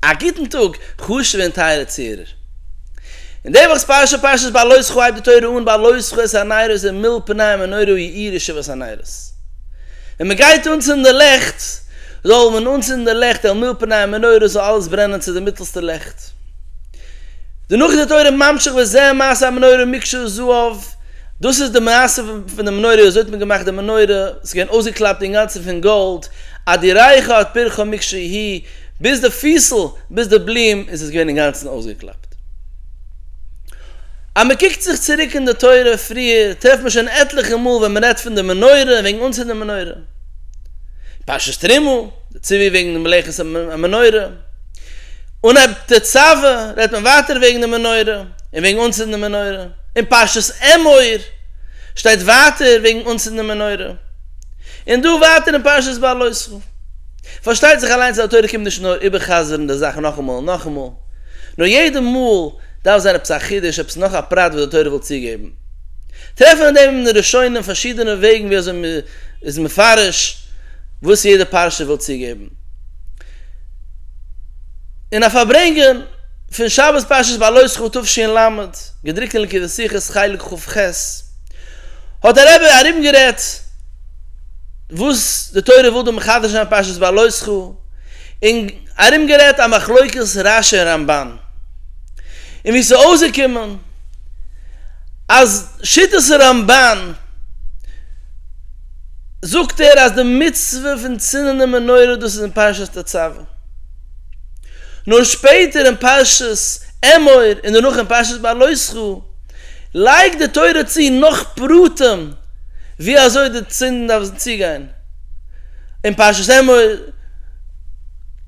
א גוטן טאג, חשוב'ע און טייערע צוהערער. אין די וואכ'ס פרשה, פרשת בעלותך, הייבט די תורה אן בעלותך את הנרות און מילא פניה מנורה יאיר ישוב את הנרות. ווען מען גייט אנצינדן לעכט, זאל מען אנצינדן לעכט אל מילא פניה מנורה זאל אלעס ברענען צו די מיטלסטע לעכט. דערנאך איז די תורה ממשיך וזה מעשה המנורה מקשה זהב, דאס איז די מעשה פון די מנורה, אזוי האט מען געמאכט די מנורה, ס'איז געווען אויסגעקלאפט אינגאנצן פון גאלד, עד יראה לך את פרחו מקשה היא, ביז די פיסל, ביז די בלום איז עס געווען אינגאנצן אויסגעקלאפט. אז מען קוקט זיך צוריק אין די תורה פריער, טרעפט מען שוין עטליכע מאל ווען מען רעדט פון די מנורה און וועגן אנצינדן די מנורה. פרשת תרומה, די ציווי וועגן די מלאכת המנורה. און אויב תצוה, רעדט מען ווייטער וועגן די מנורה און וועגן אנצינדן די מנורה. אין פרשת אמור שטייט ווייטער וועגן אנצינדן די מנורה. און דא ווייטער אין פרשת בלויתך. פארשטייט זיך אליינס אז די תורה קומט נישט נאר איבער'חזר'ן די זאך נאכאמאל און נאכאמאל, נאר יעדע מאל דארף זיין עפעס א חידוש, עפעס נאך א פרט וואס די תורה וויל צוגעבן. טרעפן אין דעם אין די ראשונים פארשידענע וועגן ווי אזוי מען איז מפרש וואס יעדע פרשה וויל צוגעבן. אין א פארברענגען פון שבת פרשת בעלותך תשל ל, געדרוקט אין ליקוטי שיחות חלק כ ח, האט דער רבי ארומגערעדט וואס די תורה וויל דא מחדש זיין פרשת בעלותך און ארומגערעדט א מחלוקת רשי און רמבן און ווי עס איז אויסגעקומען אז שיטת הרמבן זאגט ער אז די מצוה פון צינדן די מנורה דאס איז אין פרשת תצוה. נאר שפעטער אין פרשת אמור און דערנאך אין פרשת בא עליך לייגט די תורה צו נאך פרטים ווי אזוי די צינדן דארף צוגיין, אין פרשת אמור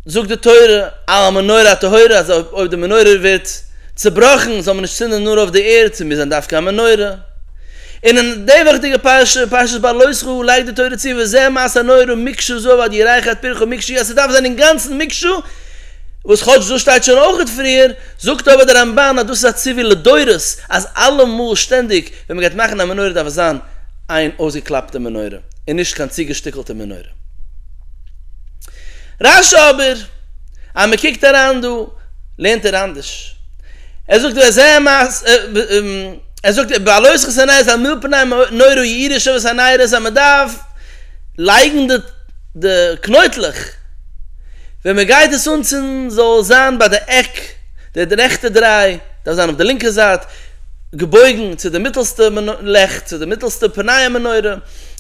זאגט די תורה על המנורה הטהורה אז אויב די מנורה ווערט צובראכן זאל מען נישט צינדן נאר אויף די ערד ס'מוז זיין דווקא א מנורה, און אין די וועכטיגע פרשה, פרשת בא לא זכור, לייגט די תורה צו, וזה מעשה נורא ומקשה זו ועוד ירייכערט פרחו מקשיא, אז ס'דארף זיין אינגאנצן מקשה, וואס כאטש דאס שטייט שוין אויכעט פריער, זאגט אבער דער רמבן אז דאס איז א ציווי לדורות, אז אלעמאל שטענדיג ווען מ'גייט מאכן א מנורה דארף עס זיין איין אויסגעקלאפטע מנורה, און נישט קיין צוגעשטיקלטע מנורה. רש י אבער, אז מ'קוקט אריין דא, לערנט ער אנדערש. ער זאגט וזה מעשה. ער זאגט איבער עלות חתונה עס א מיל פני נורא יעיר איש אבות הנער עס אז מען דארף לייגן די די קנויטלעך ווען מען גייט עס אנצינדן זאל זיין ביי די עק די רעכטע דריי דארף זיין אויף די לינקע זייט געבויגן צו די מיטעלסטע לעכט צו די מיטעלסטע פני המנורה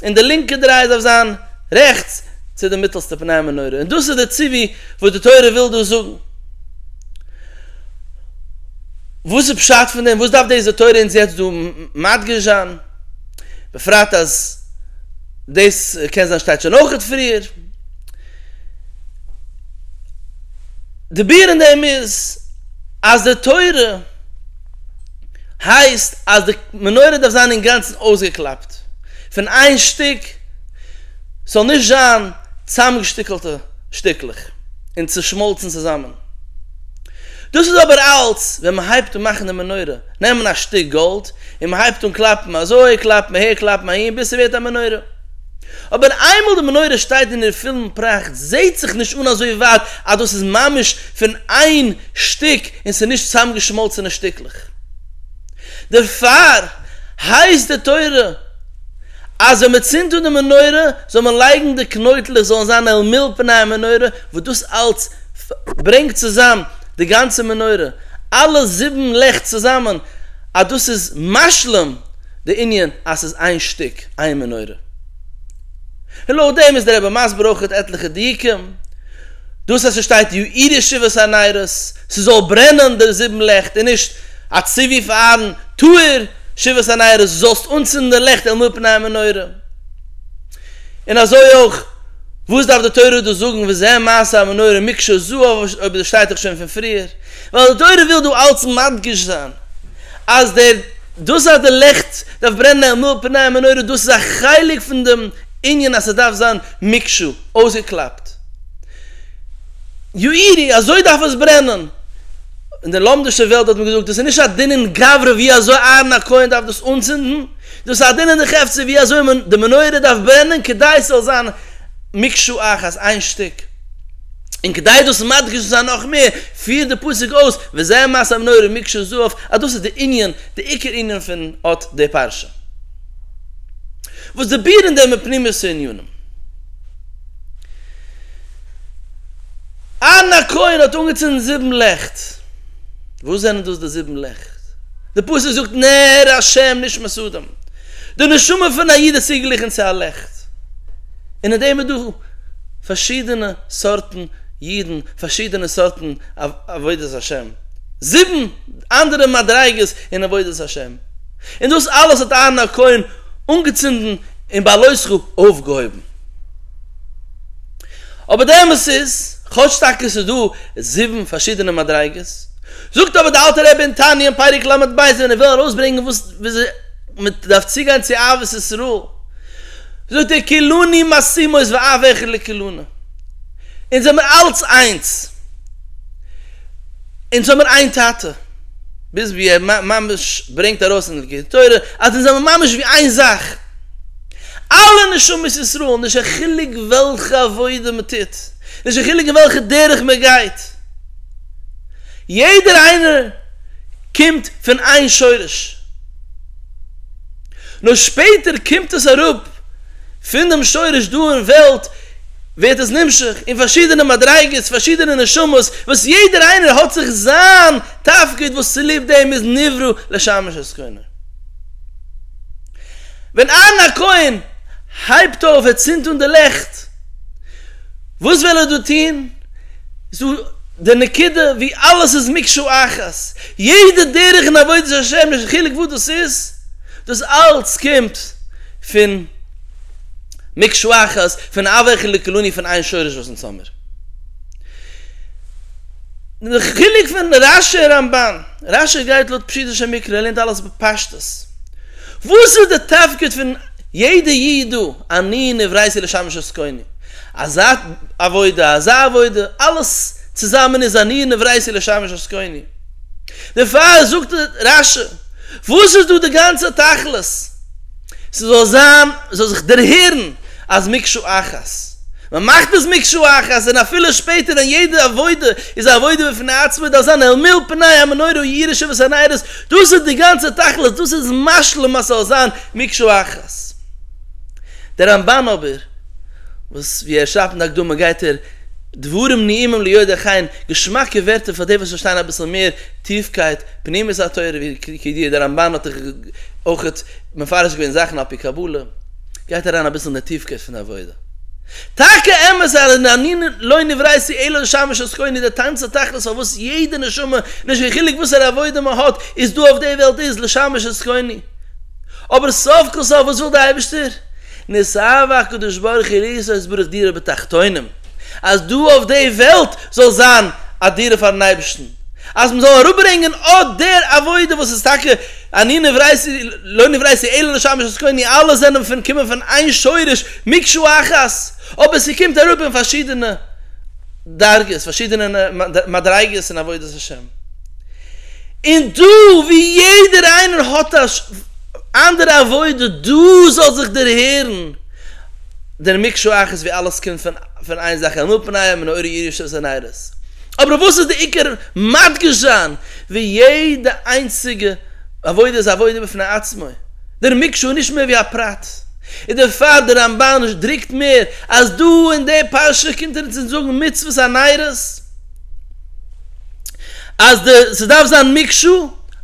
און די לינקע דריי דארף זיין רעכטס צו די מיטעלסטע פני המנורה און דאס איז די ציווי וואס די תורה וויל דא זאגן. וואס איז פשט פון דעם? וואס דארף דאס די תורה אונז יעצט דא מדגיש זיין? בפרט אז דאס קען זיין שטייט שוין אויכעט פריער. די ביאור אין דעם איז אז די תורה הייסט אז די מנורה דארף זיין אינגאנצן אויסגעקלאפט פון איין שטיק, ס'זאל נישט זיין צאמגעשטיקעלטע שטיקלעך און צושמאלצן צוזאמען. דאס איז אבער אלץ ווען מען הייבט אן מאכן די מנורה, נעמען א שטיק גאלד און מען הייבט אן קלאפן אזוי, קלאפן אהער, קלאפן אהין, ביז ס'ווערט א מנורה. אבער איינמאל די מנורה שטייט אין איר פולן פראכט זעהט זיך נישט אן אזוי ווייט אז דאס איז ממש פון איין שטיק און ס'איז נישט צוזאמגעשמאלצענע שטיקלעך. דערפאר הייסט די תורה אז ווען מען צינדט אן די מנורה זאל מען לייגן די קנויטלעך זאלן זיין אל מול פני המנורה וואס דאס אלץ ברענגט צוזאם די גאנצע מנורה אלע זיבן לעכט צוזאמען אז דאס איז משלים די ענין אז ס'איז איין שטיק איין מנורה. און לויט דעם איז דער רבי מסביר אויך עטליכע דיוקים דאס אז ס'שטייט יאיר שבעת הנרות ס'זאל ברענען די זיבן לעכט און נישט א ציווי פארן טהור, שבעת הנרות זאלסט אנצינדן לעכט אל מול פני המנורה. און אזוי אויך וואס דארף די תורה דא זאגן וזה מעשה המנורה מקשה זו אויב דאס שטייט דאך שוין פון פריער, ווייל די תורה וויל דא אלץ מדגיש זיין אז דער דאס אז די לעכט דארף ברענען אל מול פני המנורה דאס איז א חלק פון דעם ענין אז ס'דארף זיין מקשה, אויסגעקלאפט, יאירי, אזוי דארף עס ברענען! אין דער לומדישער וועלט האט מען געזאגט, דאס איז נישט א דינין גברא ווי אזוי אהרן הכהן דארף דאס אנצינדן, דאס איז א דינין דחפצא ווי אזוי מען, די מנורה דארף ברענען כדי ס'זאל זיין מקשה אחת, איין שטיק. און כדי דאס מדגיש צו זיין נאך מער, פירט דער פסוק אויס, וזה מעשה המנורה מקשה זו אף, אז דאס איז דער ענין, דער עיקר ענין פון אט די פרשה. וואס די בירען דעם אין פנימיות הענינים. אהרן הכהן האט אנגעצינדן זיבן לעכט. וואס זענען דאס די זיבן לעכט? די פסוק זאגט נר השם נשמת אדם. די נשמה פון א איד איז צוגליכן צו א לעכט. און אין דעם איז דא פארשידענע סארטן אידן, פארשידענע סארטן עבודת השם. זיבן אנדערע מדריגות אין עבודת השם. און דאס אלעס האט אהרן הכהן אנגעצינדן. און ביי לוי' ס'רוב אויפגעהויבן. אבער די אמת איז, כאטש טאקע ס'איז דא זיבן פארשידענע מדריגות, זאגט אבער די אלטע רבי אין תניא אין פרק לב ב אז ווען ער וויל ארויסברענגען וואס וויאזוי מ'דארף צוגיין צו אהבת ישראל, זאגט ער כולני מסתימות ואף אחד לכולנה, אונז זעמיר אלץ איינס, אונז האמיר איין טאטע. ביז ווי ער ממש ברענגט ארויס אין דער תורה אז אונז זעמער ממש ווי איין זאך, אלע נשמות ישראל, נישט קיין חילוק וועלכע עבודה מען טוט, נישט קיין חילוק אין וועלכע דרך מען גייט, יעדער איינער קומט פון איין שורש, נאר שפעטער קומט עס אראפ פון דעם שורש דא אין וועלט, ווערט עס נמשך אין פארשידענע מדריגות, פארשידענע נשמות, וואס יעדער איינער האט זיך זיין תפקיד וואס צוליב דעם איז נברא לשמש את כהנא. ווען אהרן הכהן הייבט אויף ער צינדט אן די לעכט, וואס וויל ער דא טון? ס'דא די נקודה ווי אלעס איז מקשה אחת, יעדע דרך אין עבודת השם נישט חילוק וואס דאס איז, דאס אלץ קומט פון מקשה אחת, פון הוה חלקלוני פון איין שורש וואס אונז האמיר. די חילוק פון רש י רמבן, רש י גייט לויט פשוטו של מקרא ער לערנט אלעס בפשטות, וואס איז די תפקיד פון יעדע איד דא, אני נבראתי לשמש את קוני, אזא עבודה אזא עבודה, אלעס צוזאמען איז אני נבראתי לשמש את קוני, דערפאר זאגט רש י וואס איז דא די גאנצע תכלית, ס'זאל זיין, זאל זיך דערהערן אז מקשה אחת. מען מאכט עס מקשה אחת, און אפילו שפעטער ווען יעדע עבודה איז א עבודה בפני עצמה דארף זיין אל מול פני המנורה און יראה שבעת הניירות, דאס איז די גאנצע תכלית, דאס איז משלים אז ס'זאל זיין מקשה אחת. דער רמבן אבער, וואס ווי ער שרייבט אין די הקדמה גייט ער דברים נעימים ליודעי חן, געשמאקע ווערטער פאר די וואס פארשטייען אביסל מער טיפקייט פנימיות התורה, ווי כידוע דער רמבן האט אויך מפרש געווען זאכן על פי קבלה, גייט אריין אביסל אין די טיפקייט פון די עבודה. טאקע אמת אז הנני לא נברייתי אלא לשמש את קוני די טאנץ די תכלית פארוואס יעדע נשמה נישט קיין חילוק וואסערע עבודה מען האט איז דא אויף די וועלט איז לשמש את קוני אבער סוף כל סוף וואס וויל די אייבערשטער נשאר הקדוש ברוך הוא לעשות את ברוך דירה בתחתונים אז דא אויף די וועלט זאל זיין א דירה פארן אייבערשטן. אז מ'זאל אראפברענגען אט דער עבודה וואס איז טאקע אני נבראתי לא נבראתי אלא לשם ישתוקוני אלע זענען פון קומען פון איין שורש מקשה אחת אבער ס'קומט אראפ אין פארשידענע דרגות פארשידענע מדריגות אין עבודת השם און דא ווי יעדער איינער האט א אנדערע עבודה דא זאל זיך דערהערן דער מקשה אחת ווי אלעס קומט פון איין זאך אלא פניהם נאורי ירושת ונרות. אבער אויף וואס איז די עיקר מדגיש זיין ווי יעדע איינציגע עבודה איז א עבודה בפני עצמו, דער מקשה איז נישט מער ווי א פרט, איז דערפאר דער רמבן דרוקט מער אז דא אין די פרשה קומט ער אונז אונז זאגן מצוות הניירות אז די ס'דארף זיין מקשה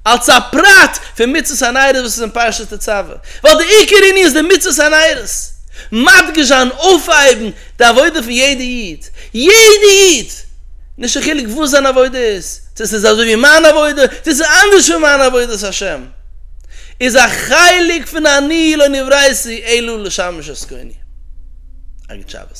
אלס א פרט פון מצוות הניירות וואס איז אין פרשת תצוה, ווייל די עיקר ענין איז די מצוות הניירות מדגיש זיין אויפהייבן די עבודה פון יעדע איד, יעדע איד! נישט קיין חילוק וואס זיין עבודה איז, צו עס איז אזוי ווי מיין עבודה, צו עס איז אנדערש פון מיין עבודת השם, איז א חלק פון אני לא נבראתי אלא לשמש את קוני. אגוט שבת.